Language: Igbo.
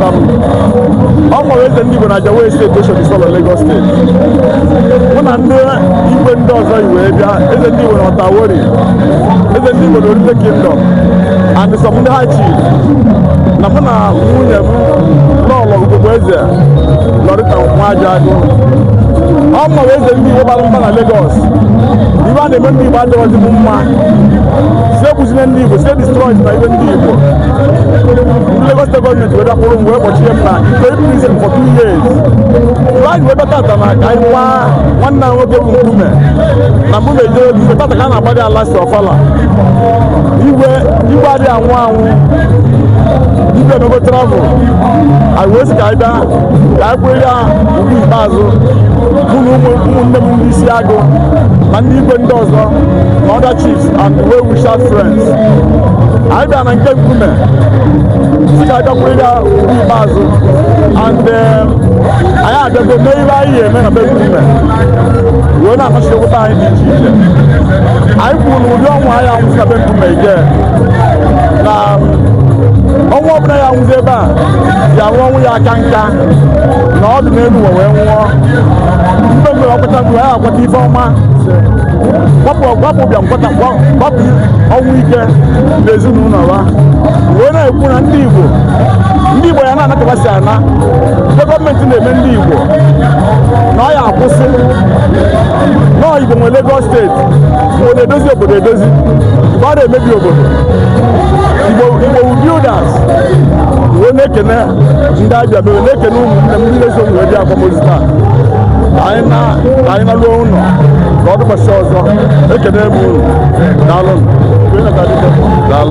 ọ mụwa eze ndị Igbo na Ajao Estate Oshodi Isolo Lagos steeti mụ na ndị igwe ndị ọzọ wee bịa eze ndị Igbo na Oto Awori eze ndị Igbo na Orile Kingdom and some ndị high chief na mụ na nwunye m Lọlọ ugogbe eze Lorita Nwajagu ọ mụwa eze ndị Igbo bara mba na Lagos ife a na-eme ndị Igbo adịghịzi m mma sị ekwuzina ndị Igbo sị e destroy na ife ndị Igbo Lagos State gọọmenti wee bịa kpụrụ m wee kpọchie m na Ikoyi prison for two years. Mgbe anyị wee bịa tata na ka anyị kwaa nwanne anyị nwoke bụ Nkume na Nkume jee ozi tata ka a na-agba ya last ọfala. Igwe igwe adịghị anwụ anwụ igwe emego travel anyị wee sị ka anyị bịa ka anyị kwanyere ya ugwu ikpeazụ mụ na ụmụ ụmụnne m ndị isi agụ na ndị igwe ndị ọzọ na other chiefs and well wishers friends anyị bịa na nke nkume sị ka anyị kwanyere ya ugwu ikpeazụ and um, anyị abịago mee ihe anyị ya-eme na be nkume wee na-anasị ogbe anyị dị iche iche anyị kwuru na ụdị ọnwụ aya anwụzi na be nkume ike na ọnwụ ọbụla ya nwụzi ebe a ya nwụọ ọnwụ ya aka nka nọọ ọdụ n'elu ụwa wee nwụọ mgbe mgbe ọ kpata mgbe ya akpata ife ọma gbapụ gbapụ bịa nkwata gba- gbapụ ọnwụ ike na ezinụlọ ha wee na-ekwu na ndị igbo ndị igbo ya na-anatabasị ana ndị gọọmenti na-eme ndị igbo na ọ ya akwụsị na ọ igbo nwe Lagos steeti igbo na-edozi obodo edozi igbo adịghị emebi obodo igbo igbo wu builders wee na-ekene ndị ọbịa m wee na-ekene ụmụnne m ndị na-eso m wee bịa akwamozu taa na ka anyị naruo ụlọ ka ọ dịkwasị ọzọ ekene m unu daalụ daalụ